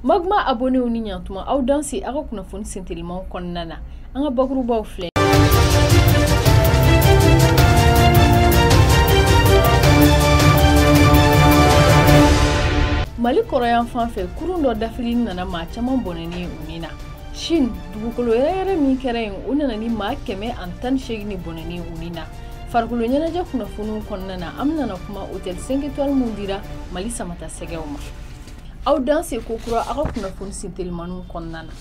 Magma abonnéw ni ɲantuma aw danse aw ka kunnafoni sentelimanw kɔnɔna na an ka bakurubaw filɛ mali kɔrɔnyanfan fɛ kurun dɔ dafili nana maa caman bɔnɛni u ni na Chine dugukolo yɛrɛyɛrɛ min kɛra yen o nana ni maa kɛmɛ ani tan ni seegin de bɔnɛni u ni na farikolo ɲɛnajɛ kunnafoniw kɔnɔna na an bɛna na kuma hotel 5 étoiles min dira mali samata sɛgɛw ma aw danse kokura aw ka kunnafoni sentelimanw kɔnɔna na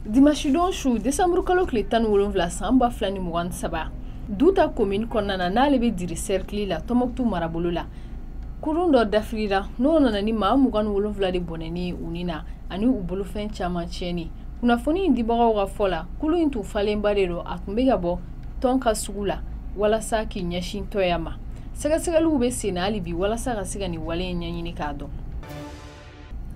dimasidon su desanburu kalo tile tan ni wolonwula san ba fila ni mugan ni saba Duta komini kɔnɔna na n'ale bɛ Dire sɛrikili la tɔmɔkutu marabolo la kurun dɔ dafirira n'o nana ni maa mugan ni wolonfila de bɔnɛni u ni na ani u bolofɛn caman tiɲɛni kunnafoni in dibagaw ka fɔ la kurun in tun falenba de don a tun bɛ ka bɔ Tonka sugu la walasa k'i ɲɛsin Toya ma sɛgɛsɛgɛliw bɛ senna hali bi walasa ka se ka nin wale in ɲɛɲini k'a dɔn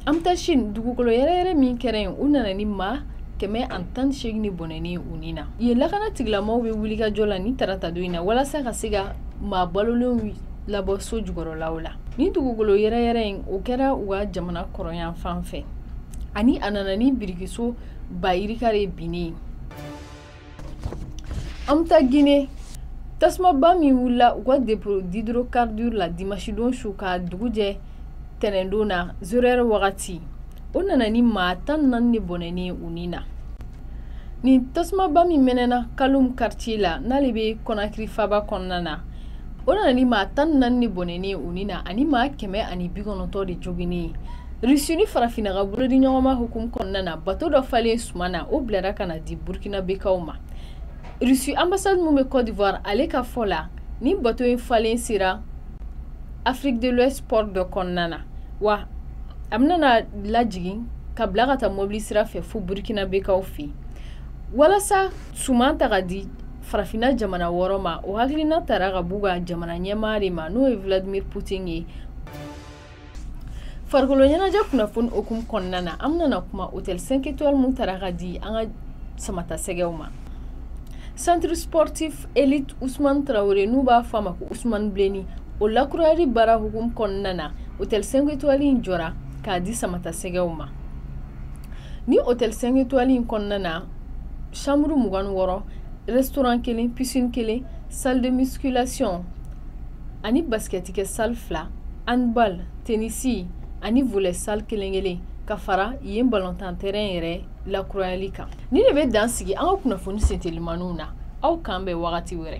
an bɛ taa Chine dugukolo yɛrɛyɛrɛ min kɛra yen o nana ni maa kɛmɛ ani tan ni seegin de bɔnɛni u ni na yen lakana tigilamaaw bɛ wulikajɔ la nin taratadon in na walasa ka se ka maa balolenw labɔ so jukɔrɔlaw la nin dugukolo yɛrɛyɛrɛ in o kɛra u ka jamana kɔrɔnyanfan fɛ ani a nana ni birikiso ba yirika de binni ye An bɛ taa Guinée tasumaba min wulila u ka dépôt d'hydrocarbures la dimasidon su ka dugu jɛ tɛnɛndon na zéro heure wagati o nana ni maa tan ni naani de bɔnɛni u ni na nin tasumaba min mɛnɛna Kaloum quartier la n'ale bɛ kɔnakiri faba kɔnɔna na o nana ni maa tan ni naani de bɔnɛni u ni na ani maa kɛmɛ ani bi kɔnɔntɔn de joginni Russie ni Farafinna ka bolodiɲɔgɔnma hukumu kɔnɔna na bato dɔ falen suman na o bilara ka na di Burkinabekaw ma Russie ambassade min bɛ Côte d'Ivoire ale ka fɔ la nin bato in falen sera Afrique de l'Ouest port dɔ kɔnɔna na wa a bɛna na lajigin ka bila ka taa mɔbili sira fɛ fo Burkinabekaw fɛ yen walasa suman ta ka di farafinna jamana wɔɔrɔ ma o hakilina tara ka b'u ka jamana ɲɛmaa de ma n'o ye Vladimir Poutine ye farikolo ɲɛnajɛ kunnafoni hukumu kɔnɔna na an bɛna na kuma hotel 5 étoiles min tara ka di an ka samata sɛgɛw ma centre sportif élite ousmane traoré n'u b'a fɔ a ma ko ousmane bleni o lakurayali baara hukumu kɔnɔna na hotel 5 étoiles in jɔra k'a di samata sɛgɛw ma nin hotel 5 étoiles in kɔnɔna na chambre mugan ni wɔɔrɔ restaurant kelen piscine kelen salle de musculation ani basikɛtikɛ salle fila handball tenisi ani volley salle kelen kelen ka fara yen balontan terrain yɛrɛ lakurayali kan nin de bɛ dan sigi an ka kunnafoni sentelimaniw na aw k'an bɛn wagati wɛrɛ